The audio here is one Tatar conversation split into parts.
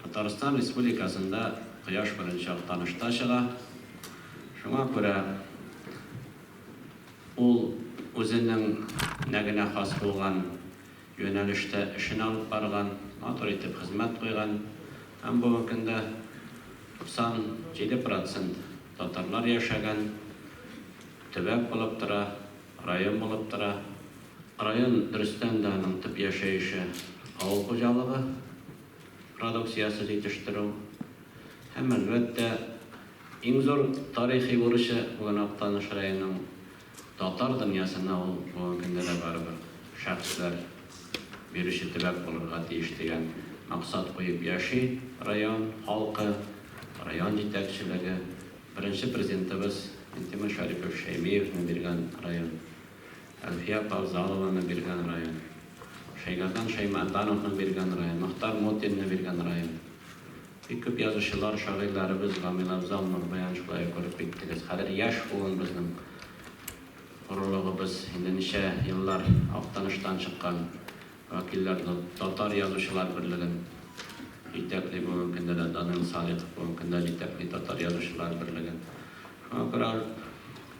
Татарстан Республикасында Кояш беренче актанышта чыга. Шуңа күрә ул үзенең нә генә хас булган юнәлештә эшен алып барган, матур итеп хезмәт куйган һәм бүгенге көндә 97 процент татарлар яшәгән төбәк булып тора. Район булып тора. Район Рөстәм дә аның төп яшәеше, авыл хуҗалыгы продукциясе җитештерү һәм, әлбәттә, иң зур тарихи бурычы бүген Актаныш районының татар дөньясына ул бүгенге көндә дә барыбер шәхесләр бирүче төбәк булырга тиеш дигән максат куеп яши район халкы, район җитәкчелеге. Беренче Президентыбыз Минтимер Шәрипович Шәймиевны биргән район, Әлфия апа Авзалованы биргән район, Шәйгәрдан Шәймәрдановны биргән район, Мохтар Мутинны биргән район. Бик күп язучылар, шагыйрьләребез, Гамиләвзал, Нурбаян шулай ук күреп киттегез. Хәзер яшь буын безнең горурлыгыбыз, инде ничә еллар Актаныштан чыккан. Вәкилләр Татар язучылар берлеген җитәкли, бүгенге көндә дә Данил Салихов бүгенге көндә җитәкли Татар язучылар берлеген. Шуңа күрә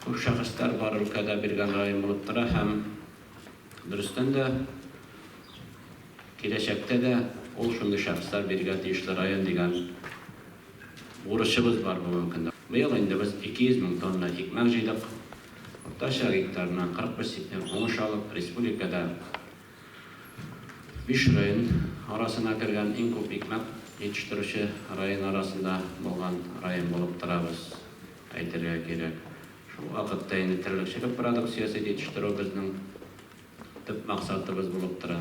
күп шәхесләр бар өлкәдә биргән район булып тора һәм дөрестән дә киләчәктә дә ул шундый шәхесләр бирергә тиешле район дигән бурычыбыз бар бүгенге көндә. Быел инде без 200 мең тонна икмәк җыйдык. Уртача гектарына 41 сентнер уңыш алып, республикада биш район арасына кергән иң күп икмәк җитештерүче район арасында булган район булып торабыз, әйтергә кирәк. Шул вакытта инде терлекчелек продукциясе җитештерү безнең Төп максатыбыз булып тора.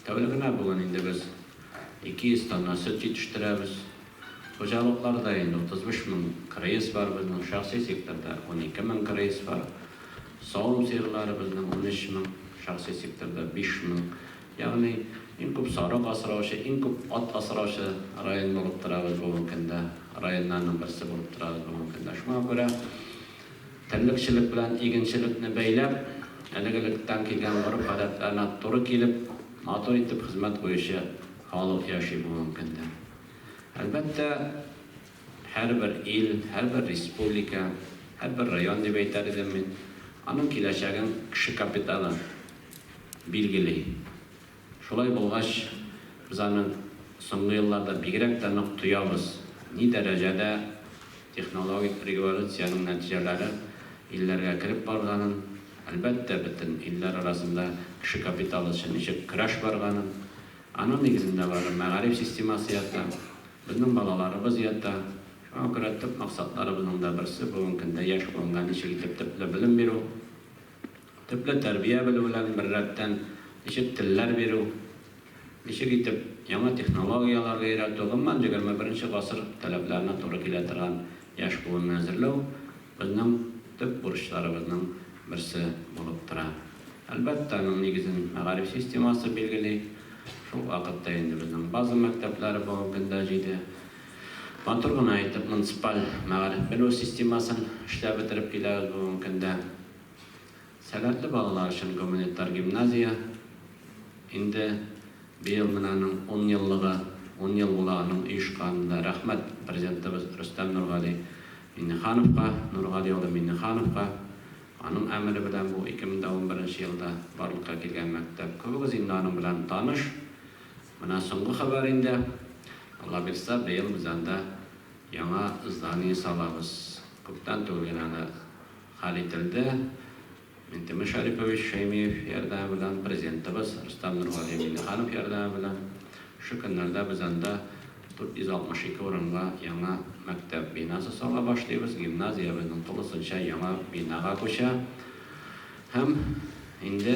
Тәүлегенә бүген инде без 200 тонна сөт җитештерәбез. Хуҗалыкларда инде 35 мең кырыес бар безнең, шәхси секторда 12 мең кырыес бар. Савым сыерлары безнең 13 мең, шәхси секторда 5 мең. Ягъни иң күп сарык асраучы, иң күп ат асраучы район булып торабыз бүгенге көндә. Районнарның берсе булып торабыз бүгенге көндә. Шуңа күрә. Терлекчелек белән игенчелекне бәйләп, әлеге лектан килгән гореф-гадәтләренә туры килеп, матур итеп хезмәт куючы халык яши бу мөмкиндер. Әлбәттә, һәрбер ил, һәрбер республика, һәрбер район дип әйтәр идем мин, аның киләчәген кеше капиталы билгели. Шулай булгач, без аны соңгы елларда бигрәк тә нык тоябыз. Ни дәрәҗәдә технологик революциянең нәтиҗәләре илләргә кереп барганын, әлбәттә, бөтен илләр арасында кеше капиталы өчен ничек көрәш барганын, аның нигезендә бары мәгариф системасы ята, безнең балаларыбыз ята. Шуңа күрә төп максатларыбызның да берсе, бүгенге көндә яшь буынга ничек итеп төпле белем бирү. Төпле тәрбия белүләрен беррәттән, ничек телләр бирү, ничек итеп яңа технологияләргә өйрәтү, гомумән, егерме беренче гасыр таләпләренә туры килә торган яшь буынны әзерләү безнең төп бурычларыбызның берсе булып тора. Әлбәттә, аның нигезен мәгариф системасы билгели. Шул ук вакытта инде безнең база мәктәпләре бүгенге көндә җиде. Матур гына итеп муниципаль мәгариф белү системасын эшләп бетереп киләбез бүгенге көндә. Сәләтле балалар өчен гуманитар гимназия инде быел менә аның ун еллыгы, ун ел була аның оешканында. Рәхмәт Президентыбыз Рөстәм Нургали Миңнехановка, Нургали улы Миңнехановка, аның әмере белән бу 2011 нче елда барлыкка килгән мәктәп. Күбегез инде аның белән таныш. Менә соңгы хәбәр инде, Аллабирса, быел без анда яңа здание салабыз. Күптән түгел генә аны хәл ителде. Минтимер Шәрипович Шәймиев ярдәме белән, Президентыбыз Рөстәм Нургали Миңнеханов ярдәме белән шушы көннәрдә без анда 462 урынга яңа мәктәп бинасы сала башлыйбыз. Гимназия безнең тулысынча яңа бинага күчә. Һәм инде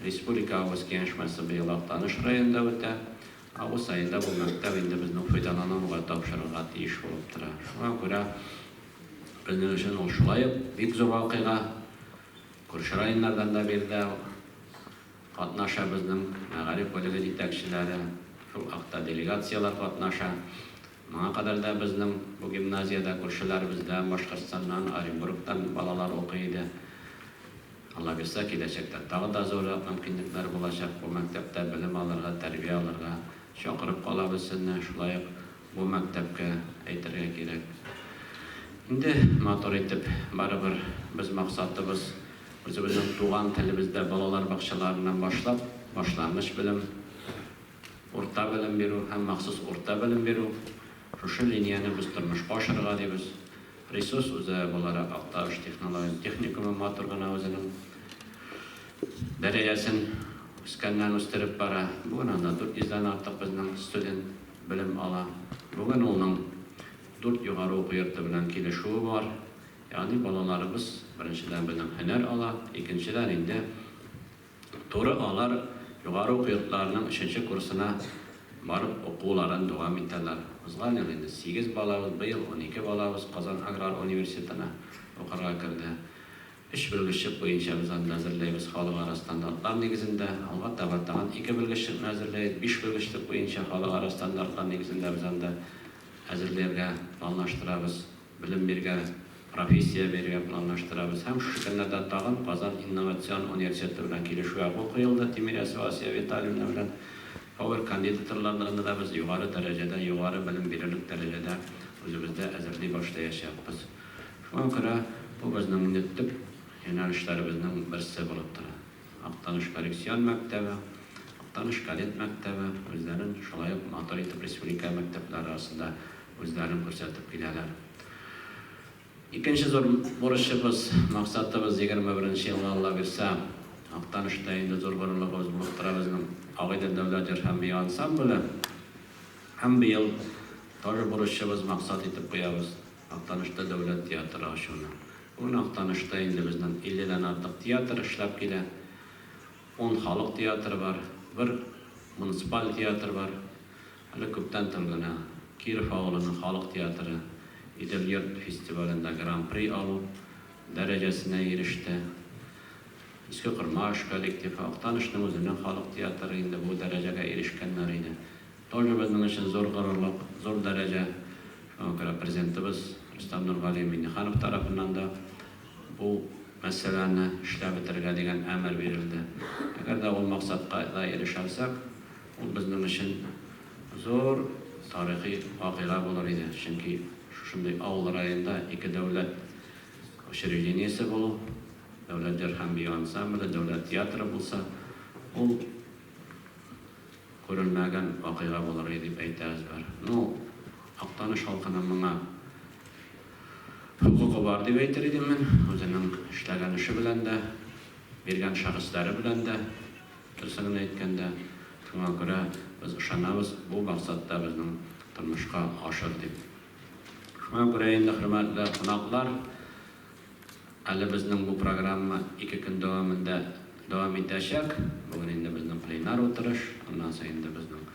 республика авыз киңәшмәсе быел Актаныш районында үтә. Август аенда бу мәктәп инде безнең файдалануга тапшырырга тиеш булып тора. Шуңа күрә, Безнең өчен ул шулай ук бик зур вакыйга. Күрше районнардан да биредә катнаша безнең мәгариф бүлеге җитәкчеләре, шул хакта делегацияләр катнаша. Моңа кадәр дә безнең бу гимназиядә күршеләребездән, Башкортстаннан, Оренбургтан балалар укый иде. Алла бирсә, киләчәктә тагы да зуррак мөмкинлекләр булачак. Бу мәктәптә белем алырга, тәрбия алырга чакырып калабыз сезне. Шулай ук Бу мәктәпкә, әйтергә кирәк, инде матур итеп, барыбер без максатыбыз, үзебезнең туган телебездә балалар бакчаларыннан башлап, башлангыч белем, урта белем бирү һәм махсус урта белем бирү, шушы линияне без тормышка ашырырга дибез. Ресурс үзәге буларак Актаныш технологик техникумы матур гына үзенең дәрәҗәсен үскәннән-үстереп бара. Бүген анда 400 дән артык безнең студент. белем ала. Бүген улның дүрт югары уку йорты белән килешүе бар. Ягъни балаларыбыз, беренчедән, безнең һөнәр ала, икенчедән, инде туры алар югары уку йортларының өченче курсына барып укуларын дәвам итәләр. Узган ел инде сигез балабыз, быел унике балабыз Казан аграр университетына укырга керде. Өч белгеччек буенча без анда әзерләйбез, халыкара стандартлар нигезендә. Алга таба тагын ике белгеччекне әзерләйбез. Биш белгечлек буенча халыкара стандартлар нигезендә без анда әзерләргә планлаштырабыз. Белем бирергә, профессия бирергә планлаштырабыз. Һәм шушы көннәрдә тагын Казан инновацион университеты белән килешү әгъгу куелды, Тимирясова Асия Витальевна белән. Повер кандидатрларны да без югары дәрәҗәдә, югары белем бирерлек дәрәҗәдә үзебездә әзерли башлаячакбыз. Шуңа күрә бу безнең инде төп юнәлешләребезнең берсе булып тора. Актаныш коррекцион мәктәбе, Актаныш кадет мәктәбе үзләрен шулай ук матур итеп республика мәктәпләре арасында үзләрен күрсәтеп киләләр. Икенче зур бурычыбыз, максатыбыз, егерме беренче елга Аллабирса, Актанышта инде зур горурлыгыбыз булып тора безнең Агыйдел дәүләт җыр һәм бию ансамбле. Һәм быел тоже бурычыбыз, максат итеп куябыз. Актанышта дәүләт театры ачуны. Бүген Актанышта инде безнең 50 дән артык театр эшләп килә. Ун халык театры бар, бер муниципаль театр бар. Әле күптән түгел генә Киров авылының халык театры Идел-йорт фестивалендә гран-при алу дәрәҗәсенә иреште. Иске Кормаш коллективы, Актанышның үзенең халык театры инде бу дәрәҗәгә ирешкәннәр иде. Тоже безнең өчен зур горурлык, зур дәрәҗә. Шуңа күрә Президентыбыз Рөстәм Нургали Миңнеханов тарафыннан да бу мәсьәләне эшләп бетерергә дигән әмер бирелде. Әгәр дә ул максатка да ирешә алсак, ул безнең өчен зур тарихи вакыйга булыр иде. Чөнки шушындый авыл районында ике дәүләт учреждениесе булу, Дәүләт җыр һәм бию ансамбле, Дәүләт театры булса, ул, Күренмәгән вакыйга булыр иде дип әйтә Әзбәр. Ну, Актаныш халкының моңа хокукы бар дип әйтер идем мин. Үзенең эшләгән эше белән дә, биргән шәхесләре белән дә, дөресен генә әйткәндә. Шуңа күрә без ышанабыз, бу максат та безнең тормышка ашыр дип. Шуңа күрә инде, хөрмәтле кунаклар. Әле безнең бу программа ике көн дәвамында дәвам итәчәк. Бүген инде безнең пленар утырыш, аннан соң инде безнең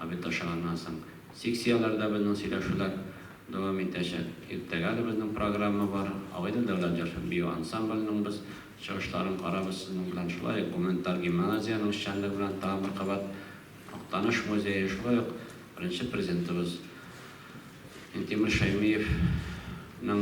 обед ашаганнан соң секцияләрдә безнең сөйләшүләр дәвам итәчәк. Иртәгә әле безнең программа бар. Агыйдел дәүләт җыр бию ансамбленең без чыгышларын карабыз сезнең белән. Шулай ук гуманитар гимназиянең эшчәнлеге белән тагын бер кабат Актаныш музее, шулай ук беренче президентыбыз Минтимер Шәймиевның,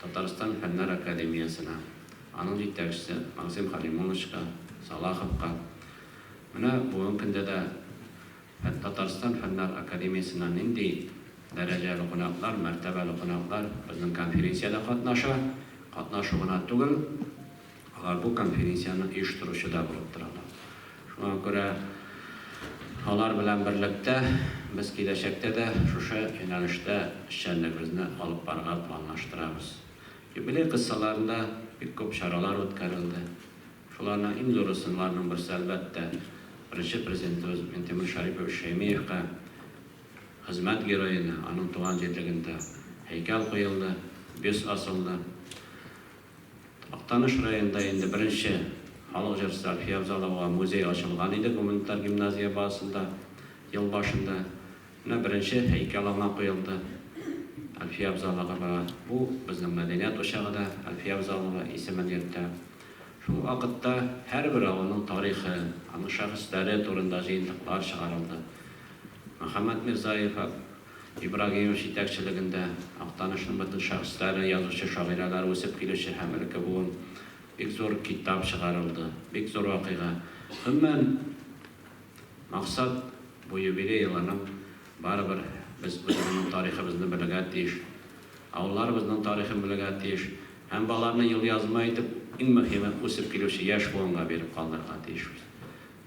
Татарстан Фәннәр академиясенә, аның җитәкчесе Максим Халимоновичка, Салаховка, менә бүген көндә дә Татарстан Фәннәр академиясеннән нинди дәрәҗәле кунаклар, мәртәбәле кунаклар безнең конференциядә катнаша, катнашу гына түгел, Алар бу конференцияне оештыручы да булып торалар. Шуңа күрә алар белән берлектә без киләчәктә дә шушы юнәлештә эшчәнлегебезне алып барырга планлаштырабыз. Юбилей кысаларында бик күп чаралар үткәрелде. Шуларның иң зуры сыннарның берсе, әлбәттә, Беренче Президентыбыз Минтимер Шәрипович Шәймиевка Хезмәт героена, аның туган җирлегендә һәйкәл куелды, бюст асылды. Актаныш районында инде беренче халык җырчысы Әлфия Авзаловага музей ачылган иде гуманитар гимназия базасында ел башында. Менә беренче һәйкәл аңа куелды, Әлфия Авзаловага. Бу безнең мәдәният учагы да Әлфия Авзалова исемен йөртә. Шул ук вакытта һәрбер авылның тарихы, аның шәхесләре турында җыентыклар чыгарылды. Мөхәммәт Мирзаев, Ибрагимов җитәкчелегендә Актанышның бөтен шәхесләре, язучы-шагыйрәләр үсеп килүче һәм элекке буын бик зур китап чыгарылды. Бик зур вакыйга. Гомумән, максат, бу юбилей елының барыбер без үзебезнең тарихыбызны белергә тиеш, авылларыбызның тарихын белергә тиеш һәм боларны елъязма итеп, иң мөһиме, үсеп килүче яшь буынга биреп калдырырга тиешбез.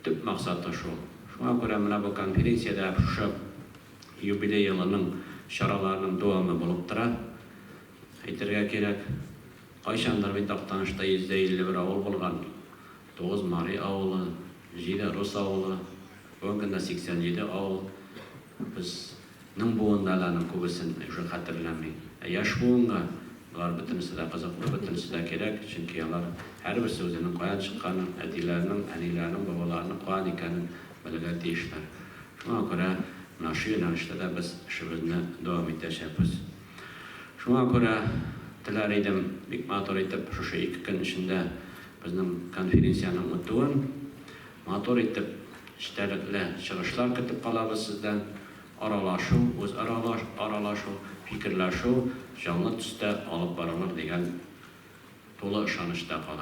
Төп максаты шул. Шуңа күрә менә бу конференция дә шушы юбилей елының чараларының дәвамы булып тора, әйтергә кирәк. Кайчандыр бит Актанышта 151 авыл булган. Тугыз мари авылы, җиде рус авылы, бүгенге көндә 87 авыл. Безнең буында да аның күбесен уже хәтерләми. Ә яшь буынга болар бөтенесе дә кызыклы, бөтенесе дә кирәк, чөнки алар һәрберсе үзенең каян чыкканын, әтиләренең, әниләренең, бабаларының каян икәнен белергә тиешләр. Шуңа күрә менә шул юнәлештә дә без эшебезне дәвам итәчәкбез. Шуңа күрә теләр идем, бик матур итеп шушы ике көн эчендә безнең конференциянең үтүен. Матур итеп, эчтәлекле чыгышлар көтеп калабыз сездән. Аралашу, үзара аралашу, фикерләшү җанлы төстә алып барылыр дигән тулы ышанычта кала.